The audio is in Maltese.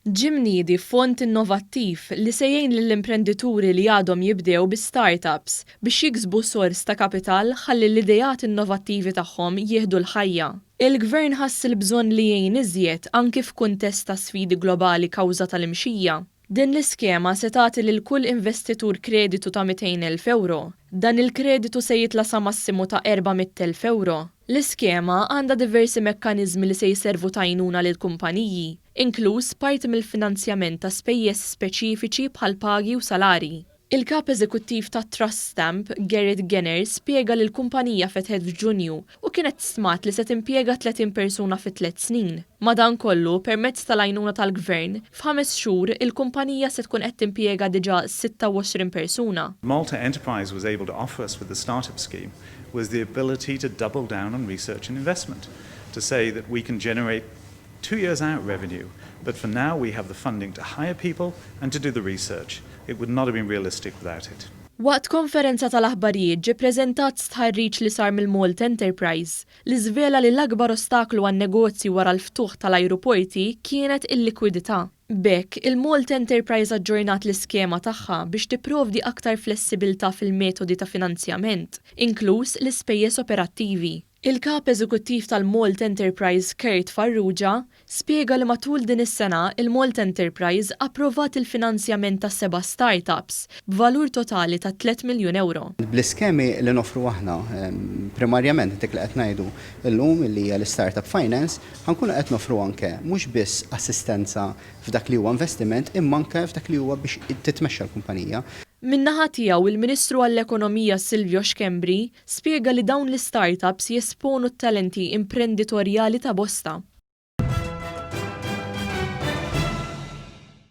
Ġie mniedi fond innovattiv li se jgħin lill-imprendituri li għadhom jibdew bi start-ups biex jiksbu sors ta' kapital ħalli l-ideat innovattivi tagħhom jieħdu l-ħajja. Il-Gvern ħass il-bżonn li jgħin iżjed anki f'kuntest ta' sfidi globali kawża tal-imxija Din l-iskema se tagħti lil kull investitur kreditu ta' 200,000 ewro. Dan il-kreditu se jitla' sa massimu ta' 400,000 ewro. L-iskema għandha diversi mekkaniżmi li se jservu ta' għajnuna lill-kumpaniji, inkluż parti mill-finanzjament ta' spejjeż speċifiċi bħall-pagi u salarji. Il-Kap Eżekuttiv ta' Trust Stamp, Gerrit Genner spjega li l-kumpanija fetħet f'Ġunju u kienet stmat li se timpjega 30 persuna fi tliet snin. Madankollu, permezz tal-għajnuna tal-Gvern, f'ħames xhur il-kumpanija se tkun qed timpjega diġà 26 persuna. Malta Enterprise was able to offer us with the start-up scheme was the ability to double down on research and investment, to say that we can generate Two years out revenue, but for now we have the funding to hire people and to do the research. It would not have been realistic without it. Waqt konferenza tal-aħbarijiet ġie preżentat stħarriġ li sar mill-Malt Enterprise li żvela li l-akbar ostaklu għan-negozji wara l-ftuħ tal-ajruporti kienet il-likwidità. B'hekk, il-Malt Enterprise aġġornat l-iskema tagħha biex tipprovdi aktar flessibilità fil-metodi ta' finanzjament, inkluż l-ispejjeż operattivi. Il-Kap Eżekuttiv tal-Malt Enterprise Kurt Farrugia spjega li matul din is-sena il-Malt Enterprise approvat il-finanzjament ta' seba' start-ups b'valur totali ta' tliet miljun ewro. Bl-iskemi li noffru aħna, primarjament dik li qed ngħidu llum li hija l-istart-up finance, ħa nkunu qed noffru anke mhux biss assistenza f'dak li huwa investiment imma anke f'dak li huwa biex titmexxa l-kumpanija. Min-naħa tiegħu, il-Ministru għall-Ekonomija Silvio Schembri Spjega li dawn l-istartups jesponu t-talenti imprenditorjali ta' bosta.